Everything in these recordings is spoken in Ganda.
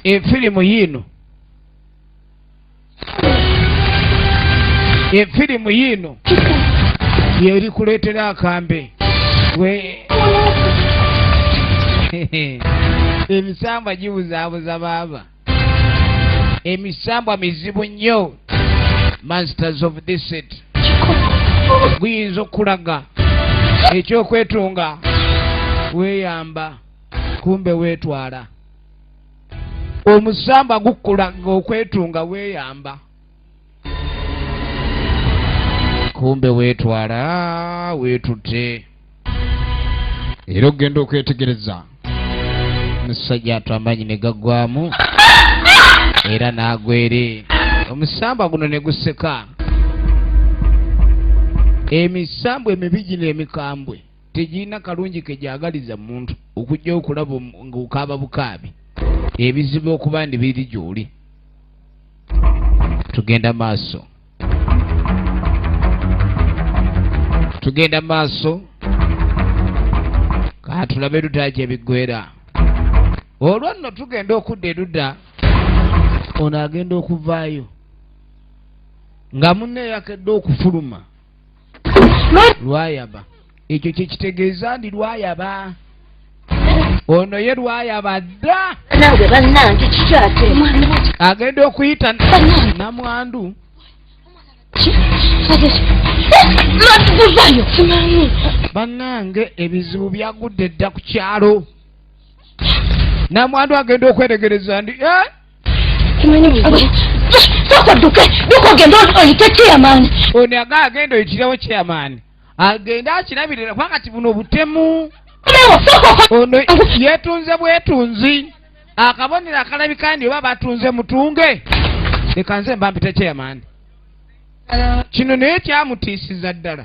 efirimu yiino efirimu yiino yeri kuleetera akambe we emisambwa gibuzaabuza baaba emisambwa mizibu nnyo masters of disit guyinza okukulaga ekyokwetunga weeyamba kumbe weetwala omusambwa gukulaga okwetunga weeyamba kumbe weetwala weetutte era okugenda okwetegereza omusajja atu amaanyi ne gaggwamu era n'agwere omusamba guno ne guseka emisambwa emibi gino emikambwe tegirina kalungi ke gyagaliza muntu okujja okulaba ng'okaaba bukaabi ebizibu okuba ndi biri gy'oli tugenda maaso tugenda maaso katulabe luda gye biggwera olwo nno tugenda okudda eruda ono agenda okuvaayo nga munne yakedde okufuluma lwayaba ekyo kyekitegeeza ndi lwayaba ono ye lwayaba dda agenda okuyita namwandu bannange ebizibu byagudde dda ku kyalo namwandu agenda okweregereza ndi eh? ono aga agenda oyitirawo chairman agende akirabirira kuba kati buno obutemu ono yetunze bwetunzi akabonero akalabika ndi oba batunze mutunge leka nze mbampita chairman kino naye kyamutiisiza ddala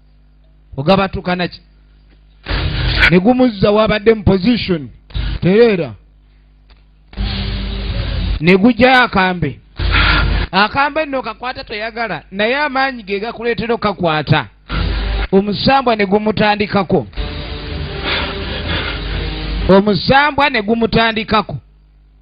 ogabatukanaki ne gumuzza wabadde mu position tereera ne gujjayo akambe akambe nno kakwata toyagala naye amaanyi ge gakuleetera okakwata omusambwa ne gumutandikako omusambwa ne gumutandikako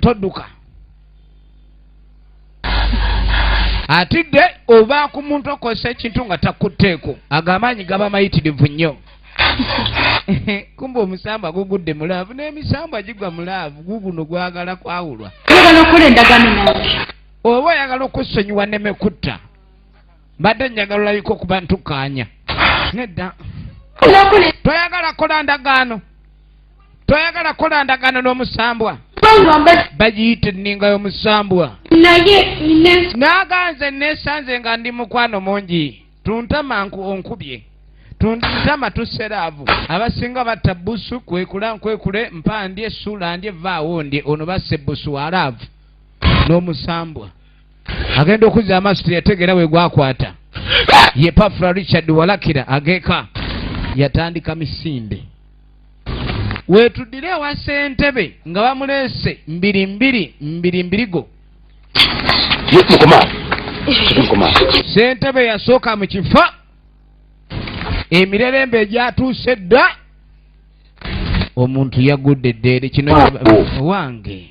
todduka atidde oba ku muntu okozesa ekintu nga takutteeko ago amaanyi gaba mayitirivu nnyo kumba omusambwa gugudde mulaavu n'emisambwa gigwa mulaavu guguno gwagala kwawulwa oba oyagala okusonyiwa nemekutta mbadde njagala olabika okuba ntukaanya nedda toyagala kola ndagaano toyagala kola ndagaano n'omusambwa bagiyita enninga y'omusambwa naye naganze nesanze nga ndi mukwano mungi tuntama onkubye tuntama tuseraavu abasinga batta busu kwekula nkwekule mpandye suula ndye vaawo ndye ono basse busu walaavu n'omusambwa agenda okuzza amaaso teyategeera we gwakwata ye pafula richard walakira ageka yatandika misinde weetuddire ewa sentebe nga bamuleese mbiri mbiri mbiri mbirigo sentebe yasooka mu kifo emirerembe egyatuuse dda omuntu yagudde eddeere kino oh. wange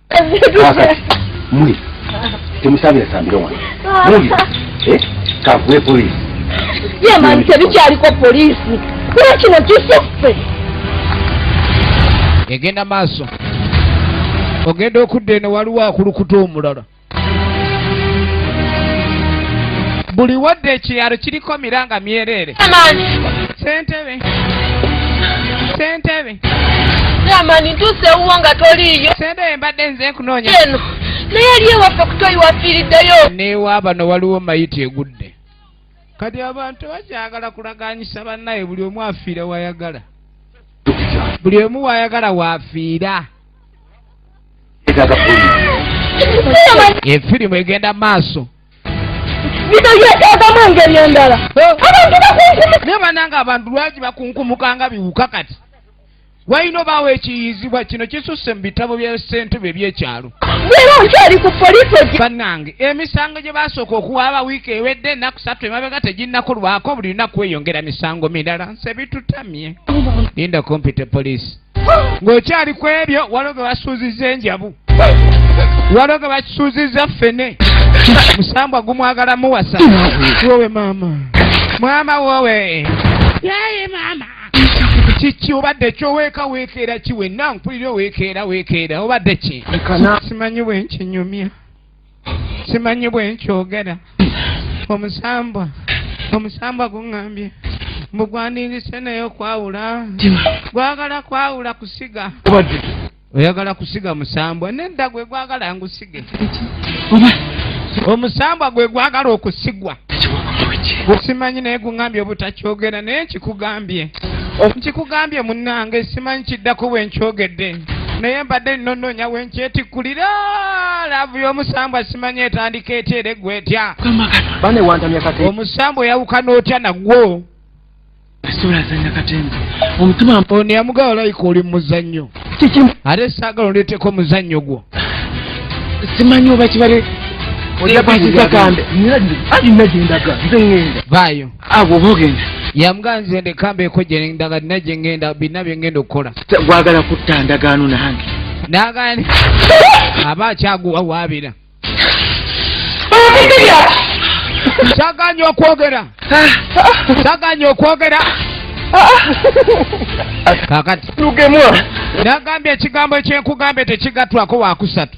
kakati mwe temusabira sambira wano muli eh? kakuwe polisi yemani tebikyaliko polisi kuba kino kisuffe egenda maaso ogenda okudda eno waliwo akulukuta omulala buli wadde ekiralo kiriko miranga myereere sentebe sentebe amani ntuuse ewuwo nga toliiyo sente eyo mbadde nze nkunoonya eno naye ali ewaffe kutoyi wafiiriddeyo newaabano waliwo mayiti egudde kati abantu bakyagala kulaganyisa bannaye buli omu afiira wayagala buli omu wayagala wafiira efirimu egenda maaso bino byetagamu engeri endala abantu bakunkumuka naye bananga abantu lwaki bakunkumuka nga biwuka kati walina obaawo ekiyizibwa kino kisusse mu bitabo bya ssentube ebyekyalo era nkyali ku poliisi egi bannange emisango gye basooka okuwa aba wiiki ewedde ennaku satu emabega teginnakulwako buli lunaku weyongera misango mirala nse bitutamye linda okumpita poliisi ng'okyali ku ebyo waliwo ge basuuzizza enjabu waliwo ge bakisuuzizza ffene musambwa gumwagala muwasa wowe maama mwama wowe yaye maama kiki obadde ki oweeka weekeera ki wenna mpulira oweekeera weekeera obadde ki simanyi bwenkinyumya simanyi bwenkyogera omusambwa omusambwa guŋambye mbu gwandingise naye okwawula gwagala kwawula kusiga oyagala kusiga musambwa nedda gwe gwagala ngusige omusambwa gwe gwagala okusigwa simanyi naye guŋambye obutakyogera naye nkikugambye nkikugambye munnange simanyi kiddako bwenkyogedde naye mbadde nno nnoonya we nkyetikkulira laavu y'omusambwa simanya etandika etya era eggwa etya omusambwa oyawukana otya nagwo ono yamugaa olayika oli mumuzannyo ate saagala ondeeteko omuzannyo gwo simanyi oba kibale ojakukiza kambe nina gyendaga nze ŋenda vaayo agwo bogenda yamuga nze ndeka mbeeko gyenda nga nina gyengenda birina byengenda okukola gwagala kutta ndagaano nange nagani aba akyaguwa waabira kyaganya okwogera kyaganya okwogera kakati lugemwa nagambye ekigambo ekyenkugambye tekigatwako wakusatu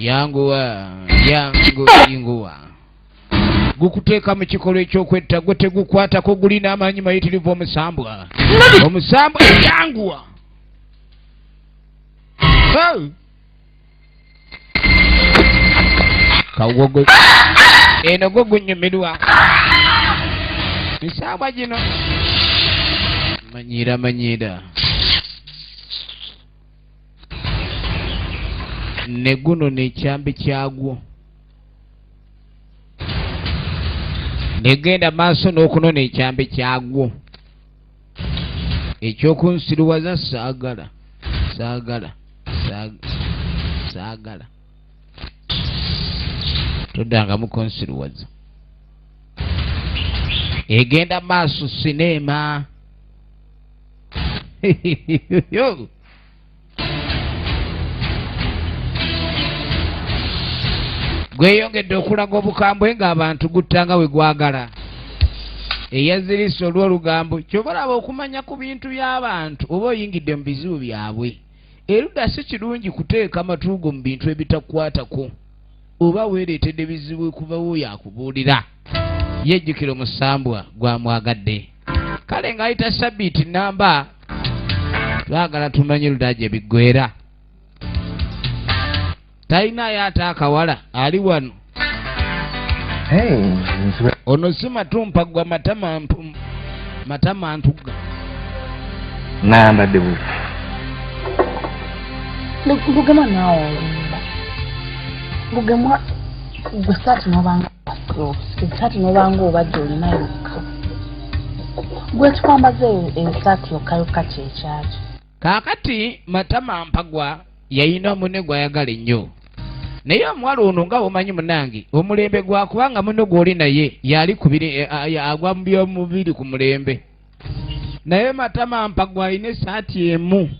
yanguwa yangu yinguwa gukuteeka mu kikolwa ekyokwetta gwe tegukwatako gulina amaanyi mayitirivu omusambwa omusambwa yanguwa kawogo eno gwo gunyumirwa misambwa gino manyira manyira ne guno nekyambi kyagwo negenda maaso n'okunona ekyambi kyagwo ekyokunsiruwaza saagala saagala saagala toddanga mukunsiruwaza egenda maaso sineema gweyongedde okulaga obukambwe ng'abantu guttanga we gwagala eyazirise olw'olugambo kyova olaba okumanya ku bintu by'abantu oba oyingidde mu bizibu byabwe erudda si kirungi kuteeka amatuugo mu bintu ebitakwatako oba weereetedde bizibu okuva wo yakubuulira yejjukira omusambwa gwamwagadde kale ng'ayita sabiiti namba twagala tumanye luda gye biggwera talinayo ate akawala ali wano ono si matumpa gwa matama matama ntugga nambadde buzi lugema naawe lugema gwe saati nabanga esaati nobanga obadde olina yokka gwekikwambaza esaati yokka yokka kyekyakyo kaakati matama mpagwa yayina omune gwayagala ennyo naye omuwala ono nga womanyi munange omulembe gwakubanga muno gwoli naye yali kubiri eh, ah, agwa mubyomubiri ku mulembe naye matama mpagwa alina esaati emu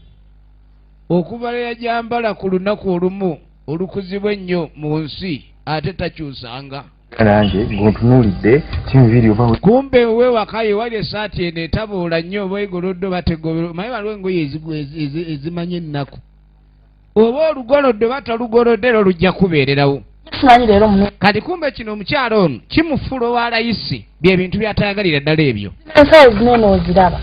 okuva leyajambala ku lunaku olumu olukuzibwa ennyo mu nsi ate takyusanga nange ngontunuulidde kimubiiri oba kumbe owewaka ye wali esaati eno etabuula nnyo oba egolodde oba tegobero maye waliwo engoye ezimanya ennaku oba olugolodde oba tolugolodde era olujja kubeererawo kati kumbe kino omukyalo ono kimufula owa layisi bye bintu byatayagalira ddala ebyo ensawo zino nooziraba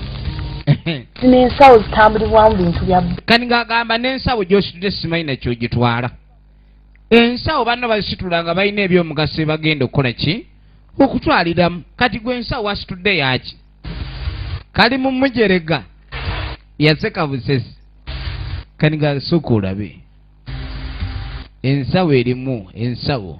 zino ensawo zitambulibwamu bintu bya kani ng'agamba n'ensawo gy'ositudde simanyi nakyo gitwala ensawo banna bazisitula nga balina ebyomugaso ebagenda okukola ki okutwaliramu kati gwe ensawo wasitudde yaki kali mu mujerega yaseka busesi kani ng'asooka olabe ensawo erimu ensawo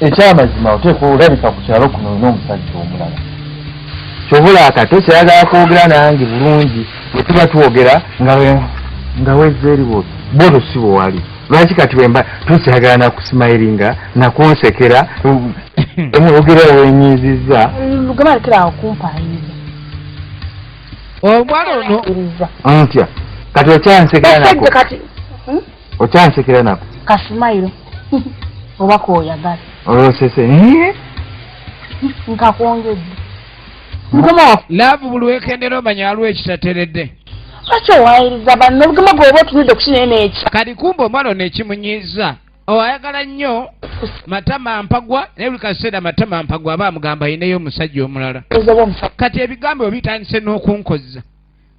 ekyamazima oteekwa olabika ku kyalo kuno olina omusajja omulala kyobula akato kyayagala kwogera nange bulungi bwetuba twogera nga wezza eri bwo bo lusibo wali lwaki kati wemba tokyagala nakusimayiringa nakunsekera omwogera wenyiizizza omuwala ono ntya kati okyansekera nako hmm? okyansekera nako kasimayiro oba koyagala olwosese nkakwongedde laavu buli wekendera omanya aliwo ekitateredde lwaki owayiriza banno obugema gwoba otunudde okukinaye n'ekyo kati kumba omwana ono ekimunyiiza oyagala nnyo matama mpagwa naye buli kaseera matama mpagwa aba amugamba ayineyo omusajja omulala kati ebigambo ebyo bitandise n'okunkozza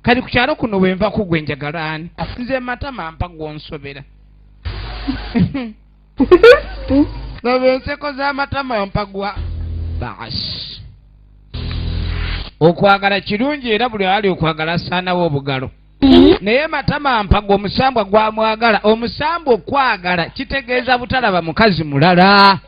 kali ku kyalo kuno bwe nva kugwe njagala ani nze matama mpa gwonsobera laba enseko z'amatama mpagwa baasi okwagala kirungi era buli ali okwagala asaanawo obugalo naye matama mpaga omusambwa gwamwagala omusambwa okwagala kitegeeza butalaba mukazi mulala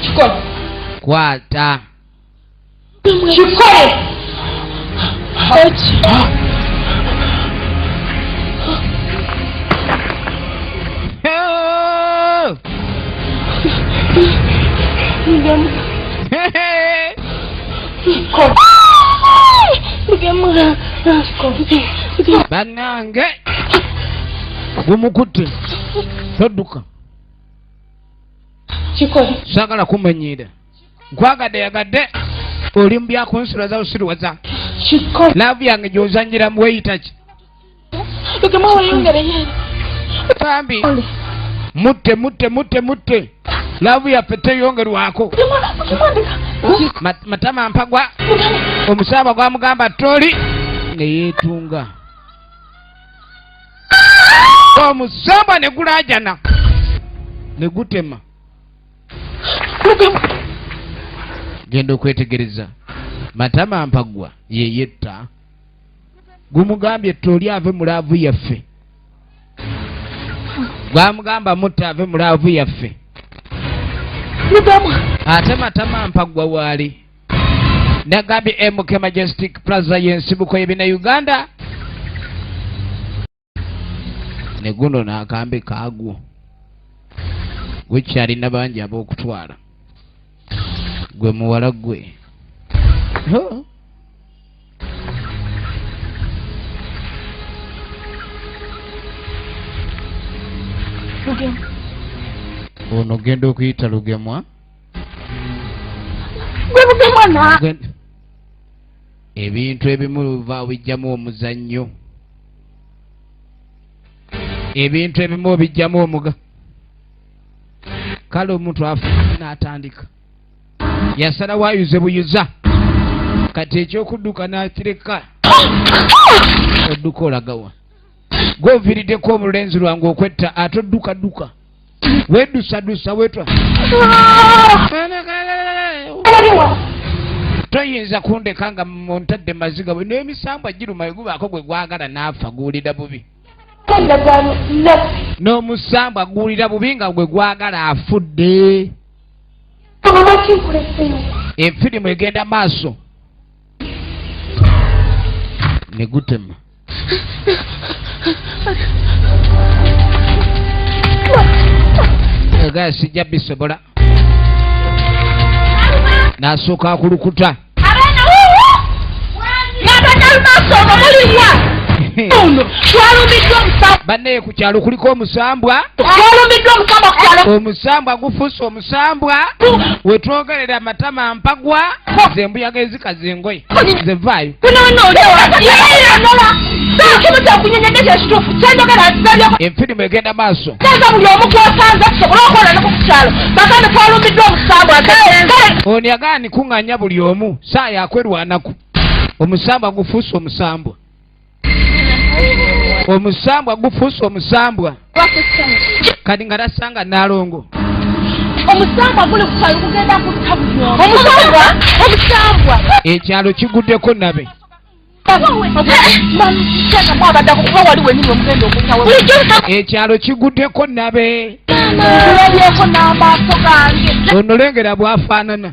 kikole kwata kikole banange gumukutte todduka kikole sagala kumanyiira nkwagadde yagadde oli mu byakunsula za usiriwaza laavu yange gyozanyira mu weyitaki bambi mutte mutte mutte mutte laavu yaffe teyongerwako matama mpagwa omusaaba gwamugamba toli neyeetunga omusambwa ne gulajana ne gutema genda okwetegereza matama mpagwa yeyetta gumugambye toli ave mu laavu yaffe gwamugamba mutta ave mu laavu yaffe ate matama mpagwa waali nagambye mk majestic plaza yensibuko yebina uganda neguno nakambe kagwo wekyalina bangi abokutwala gwe muwala gwe ono genda okuyita lugemwa gwebuge mwana ebintu ebimu luva obijjamu omuzannyo ebintu ebimu obijjamu omuga kale omuntu afu n'atandika yasala wayuze buyuza kati ekyokudduka nakireka odduka olagawa gwovirideko omulenzi lwange okwetta ate oddukadduka wedusadusa wetwa toyinza kundeka nga muntadde maziga bwe n'emisambwa giruma egubaako gwe gwagala n'afa guwulira bubi n'omusambwa guwulira bubi nga gwe gwagala afudde efirimu egenda maaso ne gutema Egaya sijja bisobola nasooka ku lukuta bannaye ku kyalo kuliko omusambwa omusambwa gufuuse sambwa wetwogerera amatama mpagwa ze mbuyaga ezikaza engoye ze vaayo enfirimu egenda maaso ono yagala nikuŋŋanya buli omu saa yakwerwanaku omusambwa gufuuse omusambwa omusambwa gufuuse omusambwa kati nga tasanga nalongo omusambwa guli kukyalo kugenda kutta bulyomusambwa omusambwa ekyalo kiguddeko nabe ekyalo kiguddeko nabe ono lengera bwafaanana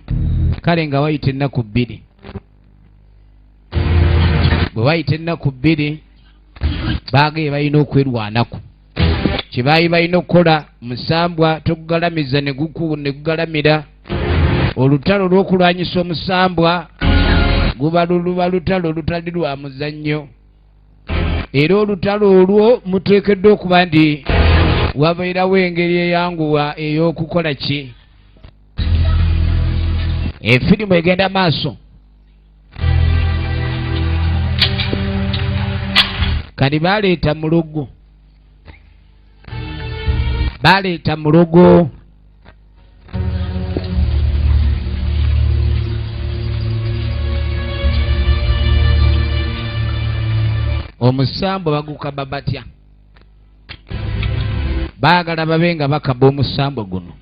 kale nga wayita ennaku bbiri bwe wayita ennaku bbiri baagaye balina okwerwanako kye baali balina okukola musambwa tokugalamiza ne gugalamira olutalo lw'okulwanyisa omusambwa guba luluba lutalo olutali lwa muzannyo era olutalo olwo muteekeddwa okuba nti wabeerawo engeri eyanguwa ey'okukola ki efirimu egenda maaso kati baleeta mulogo baleeta mulogo omusambo bagukaba batya baagala babe nga bakaba omusambo guno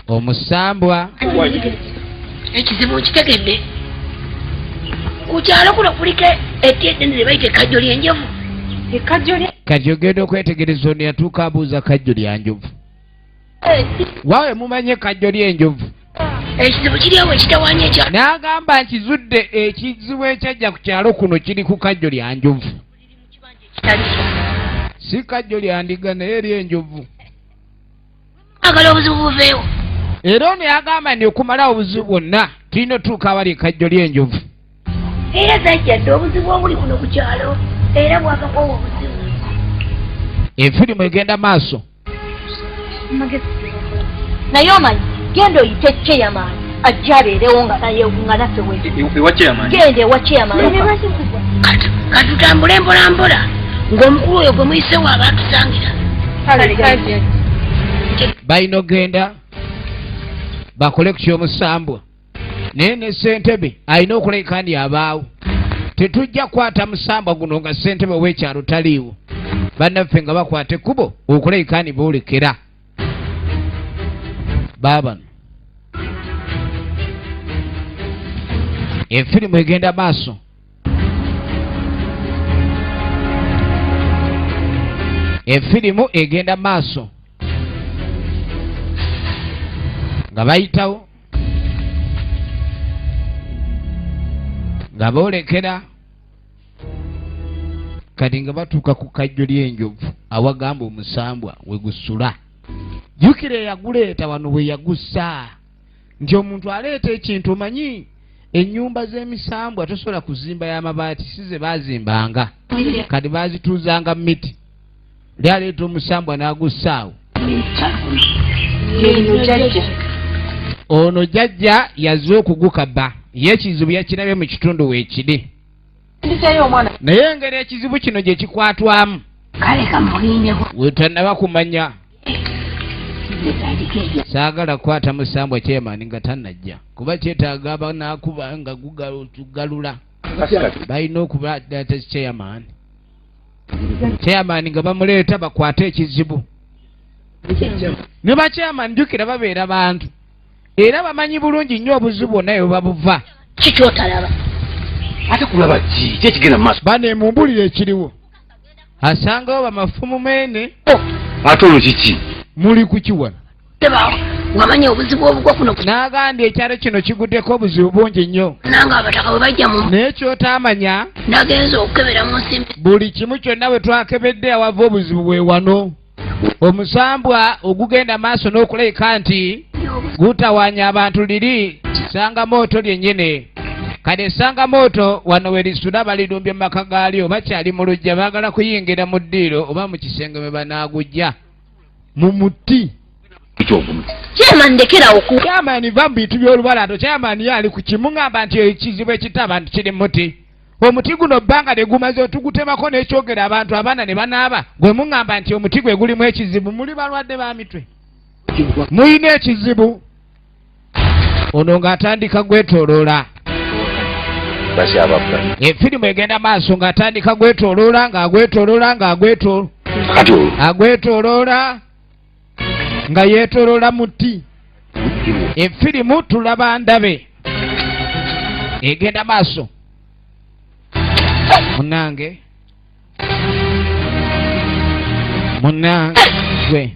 omusambwa ekizibu nkitegedde ku kyalo kuno kuliko eti eddene lye bayita ekkajjo lyenjovu kati ogenda okwetegereza ono yatuuka abuuza kajjo lyanjovu wawe mumanye kajjo lyenjovu ekizibu kiryawo ekitawanya ekya n'agamba nkizudde ekizibu ekyajja ku kyalo kuno kiri ku kajjo lya njovu si kajjo lya ndiga naye eri enjovu agala obuzibu buveewo era ono yagamba nti okumalawo obuzibu bwonna tulina otuuka abali ekajjo ly'enjovu era zajja dde obuzibu obuli kuno ku kyalo era bwakakwawo obuzibu efirimu egenda maaso naye omanyi genda oyite ceyamaani ajja abeerewo nga nayenga naffe wegenda ewa ceyamaani katutambule mpolampola ng'omukulu oyo gwe muyisewo abaatusangira balina okugenda bakole ku kyomusambwa naye ne ssentebe alina okuleka ndi abaawo tetujja kukwata musambwa guno nga ssentebe w'ekyalo taliiwo bannaffe nga bakwata ekkubo okuleka ni boolekera baabano efirimu egenda maaso efirimu egenda maaso nga bayitawo nga boolekera kati nga batuuka ku kajjo ly'enjovu awagamba omusambwa we gusula jjukira eyaguleeta wano bwe yagussa nti omuntu aleeta ekintu omanyi ennyumba z'emisambwa tosobola kuzimba y'amabaati si ze baazimbanga kati baazituuzanga miti yali aleeta omusambwa n'agussaawo ono jajja yaze okugukaba ye ekizibu yakirabye mu kitundu weekiri naye engeri ekizibu kino gye kikwatwamu wetanaba kumanya saagala kukwata musambwa kyemani nga tanajja kuba kyetaaga abanakuba nga gugalula balina okuba data kyeyamaani chairman nga bamuleeta bakwate ekizibu ne bachairman jukira babeera bantu era bamanyi bulungi nnyo obuzibu bwonna bwe babuva kikyotalaba ate kulaba ki kyekigenda maaso bane mumbulire ekiriwo asangawo bamafumu mene oh, ate olwo kiki muli kukiwana wamanya obuzibu obugwa kuno n'agambye ekyalo kino kiguddeko obuzibu bungi nnyo nanga abataka bwe bajja mu naye kyotaamanya nagenza okukebera mu nsimbi buli kimu kyonna bwe twakebedde awava obuzibu bwe wano omusambwa ogugenda maaso n'okuleka nti gutawanya abantu liri sanga mooto lyennyini kati esanga mooto wano we lisula balirumbye mu maka gaalyo bakyali mu lujja baagala kuyingira mu ddiiro oba mu kisenge mwe banaagujja mu muti kyamani va mu bintu by'olubalato kyamani yaali ku kimu ngamba nti ekizibu ekita abantu kiri muti omuti guno bbanga ne gumaze otugutemako n'ekyogera abantu abaana ne banaaba gwe muŋŋamba nti omuti gwe gulimu ekizibu muli balwadde ba mitwe mulina ekizibu ono ng'atandika gwetoloola efirimu egenda maaso ng'atandika gwetoloola ng'agwetoloola ng'agwetoloola nga yeetoloola muti efirimu tulaba ndabe egenda maaso munange munange